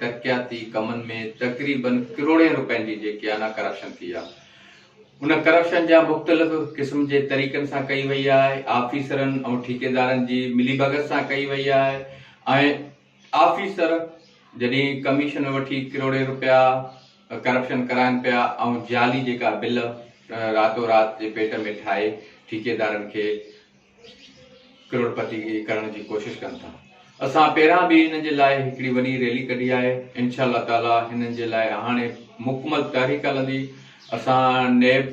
ترقياتي ڪمن ۾ تقريبن ڪروڙين رپين جي جيڪي آنا ڪرپشن ٿي آ ان ڪرپشن جا مختلف قسم جي طريقن سان ڪئي وئي آهي آفيسرن ۽ ٺيڪيدارن جي ملي ڀڳت سان ڪئي وئي آهي ۽ آفيسر جڏهن ڪميشن وٺي ڪروڙين رپيا ڪرپشن ڪرائن پيا ۽ جعلي جيڪا بل راتو رات جي پيٽ ۾ ٺاهي ٺيڪيدارن کي ڪروڙپتي ڪرڻ جي ڪوشش ڪن ٿا اسان پهران به هنن جي لاء هڪڙي وڏي ريلي ڪڍي آهي انشاء الله تعالي هنن جي لاء هاڻي مڪمل تحريڪ هلندي اسان نيب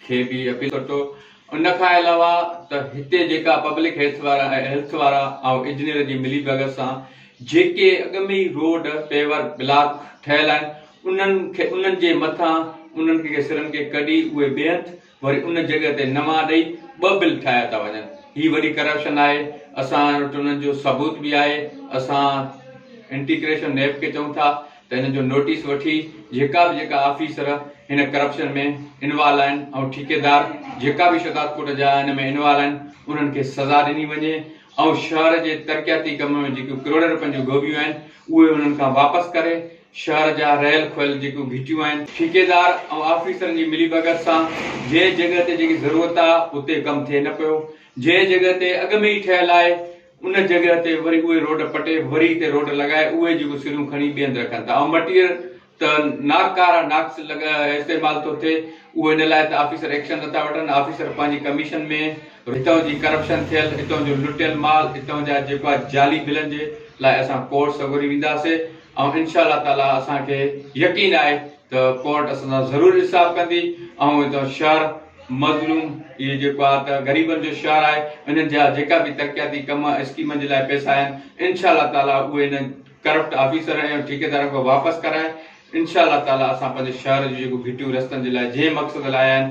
کي به اپيل ڪرتو ان کان علاوه ته هتي جيڪا پبلڪ هيلٿ وارا هيلٿ وارا ۽ انجنيئر جي ملي بغل سان جيڪي اڳ ۾ ئي روڊ پيور بلاڪ ٺهيل آهن انهن کي انهن جي مٿان انهن کي سرن کي ڪڍي اهي بيهنت وري ان جڳهه تي نوان ڏئي ٻه بل ٺاهيا ٿا وڃن هي وڏي ڪرپشن آهي اسان وٽ انهن جو ثبوت به آهي اسان انٽيڪريشن نيب کي چئون ٿا ته انهن جو نوٽيس وٺي جيڪا به جيڪا آفيسر هن ڪرپشن ۾ انوالو آهن ۽ ٺيڪيدار جيڪا به شهداد ڪوٽ جا ان ۾ انوالو آهن انهن کي سزا ڏني وڃي ۽ شهر جي ترقياتي ڪم ۾ جيڪيون ڪروڙين روپين جون گهوٻيون آهن اهي انهن کان واپس ڪري شهر جا رهيل کوهيل جيڪيون گهٽيون آهن. ٺيڪيدار ۽ آفيسرن جي ملي ڀڳت سان جنهن جڳهه تي جيڪي ضرورت آ اتي ڪم ٿئي نه پيو. جنهن جڳهه تي اڳ ۾ ئي ٺهيل آهي ان جڳهه تي وري اهي روڊ پٽي وري هتي روڊ لڳائي اهي جيڪون سريون کڻي ٻي هنڌ رکن ٿا ۽ مٽيريل ته ناڪاره ناقص استعمال ٿو ٿئي اهو ان لاء ته آفيسر ايڪشن نٿا وٺن آفيسر پنهنجي ڪميشن ۾ هتان جي ڪرپشن ٿيل هتان جو لٽيل مال هتان جا جيڪو آ جعلي بلن جي لاء اسان ڪورٽ سڳوري وينداسي. ۽ انشاء الله تعاليٰ اسان کي يقين آهي ته ڪورٽ اسان سان ضرور انصاف ڪندي ۽ هتان جو شهر مظلوم اهي جيڪو آهي ته غريبن جو شهر آهي انهن جا جيڪا به ترقياتي ڪم اسڪيمن جي لاء پئسا آهن انشاء الله تعاليٰ اهي انهن ڪرپٽ آفيسرن ۽ ٺيڪيدارن کان واپس ڪرائي انشاء الله تعاليٰ اسان پنهنجي شهر جون جيڪو گهٽيون رستن جي لاء جنهن مقصد لاء آيا آهن